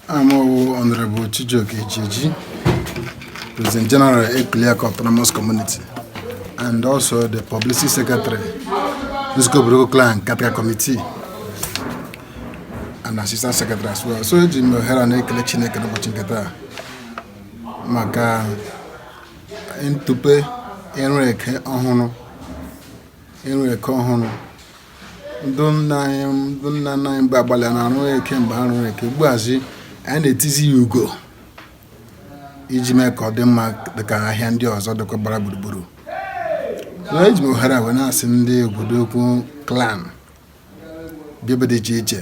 Aha m wụ Honorable Chijioke Ichieji, President General Ekliaka Autonomous Community, and also the Publicity Secretary, Nzukọ Obodoukwu Clan Caretaker Committee, and Assistant Secretary as well. So eji m ohere a na-ekele Chineke n'ụbọchị nke taa maka ntụpe ịrụ eke ịrụ eke ọhụrụ ndị nna anyị ndị nna nna anyị mgbe agbalị na arụ eke mgbe ha rụrụ eke ugbuazi anyị na-etizi ya ugo iji mee ka ọ dị mma dịka ahịa ndị ọzọ dịkwa gbara gburugburu na eji m ohere a wee na-asị ndị Obodoukwu clan bi ebe dị iche iche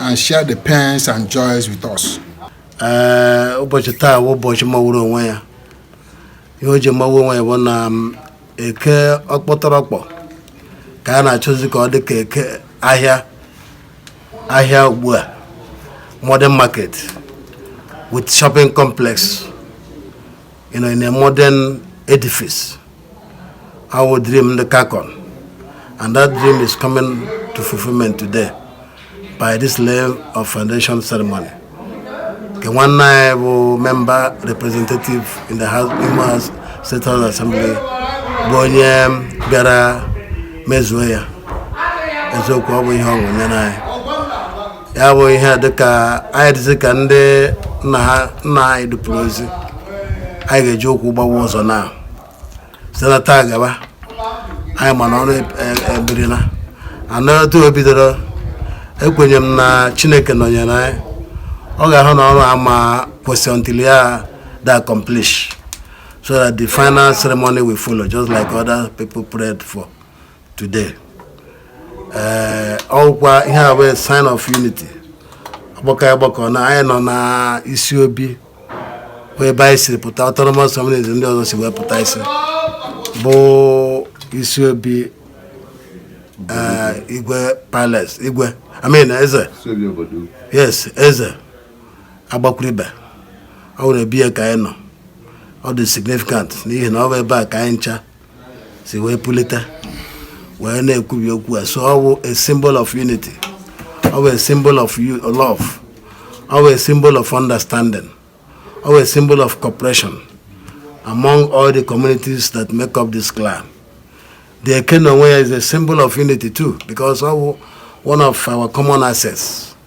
and share the pains and joys with us. Eh, ụbọchị taa wụ ụbọchị mawuru onwe ya ihe o ji mawu onwe ya bụ na mm, eke ọkpọtọrọkpọ ka a na-achọzi ka ọ dị ka eke ahịa ahịa ugbu a modern market with shopping complex you know, in a modern edifice. Our dream, the Kakon. And that dream is coming to fulfillment today by this level of foundation ceremony. The one I will member representative in the House, Imo House State House Assembly, Bonye Bera Mezueya. Ezeokwu ọ bụ ihe ọṅụ nye n'anyị. ya bụ ihe dịka anyị dịzi ka ndị nna anyị dupụrụ ozi anyị ga-eji ụkwụ gbawa ụzọ na site na taa gaba anyị ma na ọrụ e, e, ebirila and otu o bidoro ekwenye m na chineke nọnyere anyị ọ ga-ahụ na ọrụ a ama akwụsị until ya adị accomplish so that the final ceremony will follow just like other people prayed for today ee eh, ọkwa ihe a wụ sign of unity ọgbakọ anyị gbakọ na anyị nọ na isi obi wụ ebe anyị siri pụta autonomous community ndị ọzọ si wee pụta isi bụ isi obi eh, igwe palace igwe I mean eze yes eze Agbakwuribe ọ wụrụ be ya ka anyị nọ ọ dị significant n'ihi na ọ bụ ebe a ka anyị ncha si wee pulite wee na-ekwubi okwu a so ọ wụ a symbol of unity ọ wụ a symbol of love ọ wụ a symbol of understanding ọ wụ a symbol of cooperation among all the communities that make up this clan the Eke n'onwe ya is a symbol of unity too because ọ wụ one of our common assets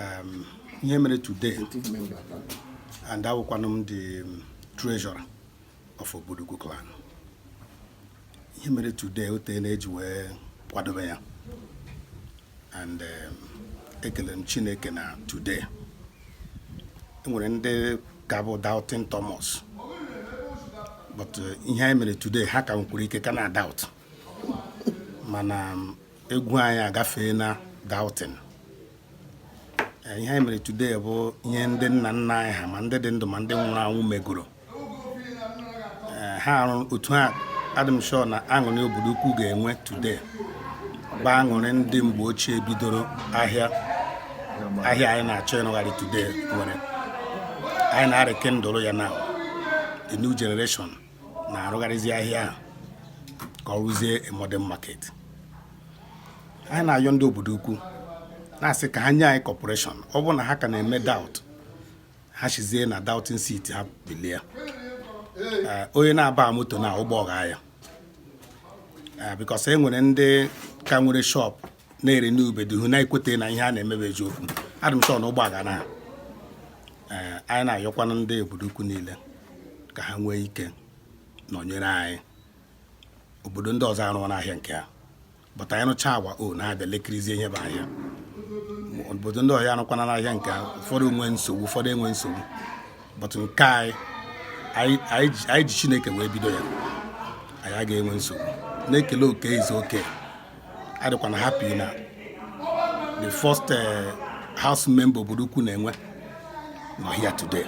um, ihe mere today and awụkwanụ m the um, treasurer of Obodoukwu clan ihe mere today o teena e ji wee kwadobe ya and um, ekele m Chineke na today enwere ndị ka bụ doubting Thomas but uh, ihe anyị mere today ha ka nwekwara ike ka na doubt mana um, egwu anyị agafeena doubting eh, ihe anyị mere today bụ ihe ndị nna nna anyị ha ma ndị dị ndụ ma ndị nwụrụ anwụ megoro eh, ha arụ otu ha adị m sure na aṅụrị Obodoukwu ga-enwe today bụ aṅụrị ndị mgbe ochie bidoro ahịa ahịa anyị na-achọ ịrụgharị today nwere anyị na-rekindle ya now the new generation na-arụgharịzi ahịa ahụ ka ọ wụzie modern market anyị na-ayọ ndị Obodoukwu na-asị ka ha nye anyị cooperation ọ bụrụ na ha ka na-eme doubt ha sizie na doubting seat ha bilie eh, onye na-abahụ moto na ụgbọ aghaa ya eh, because e nwere ndị ka nwere shop na-ere n'ubeduhu na-ekweta na ihe a na-eme bụ eziokwu adị m sure na ụgbọ aghara ha ee anyị na-ayọkwanụ ndị Obodoukwu niile ka ha nwee ike nọnyere anyị obodo ndị ọzọ arụọna ahịa nke ha but anyị rụcha agwa o na-abịa lekirizie ihe bụ ahịa obodo ndị ọzọ arụkwana ahịa nke ha ụfọdụ nwee nsogbu ụfọdụ enwe nsogbu but nke anyị anyị anyị ji- anyị ji chineke wee bido ya anyị agaghị enwe nsogbu na-ekele oke izu oke adịkwanụ m happy na the first eh, house member Obodoukwu na-enwe nọ here today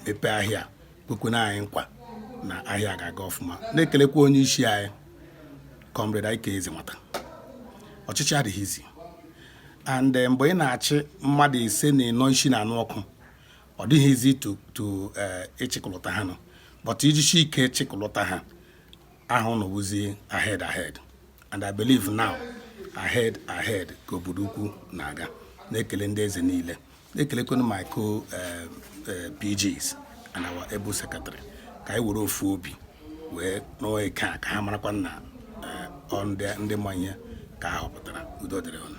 mepee ahịa kwekwana anyị nkwa na ahịa ga-aga ọfụma na-ekelekwa onye isi anyị comrade Ike Ezenwata ọchịchị adịghị easy and eh, mgbe ị na-achị mmadụ ise na ịnọ isi na-anụ ọkụ ọ dịghị easy to ịchịkọlọta eh, ha ọnụ but i jisi ike chịkọlọta ha aha ụnụ wụzi ahead ahead and I believe now ahead ahead ka Obodoukwu na-aga na-ekele ndị eze niile na-ekelekwanụ my co eh, eh, PGs and our able secretary ka anyị were ofu obi wee rụọ ike a ka ha marakwa na eh, ọ ndị ndị ma ihe ka a họpụtara udo dịrị ụnụ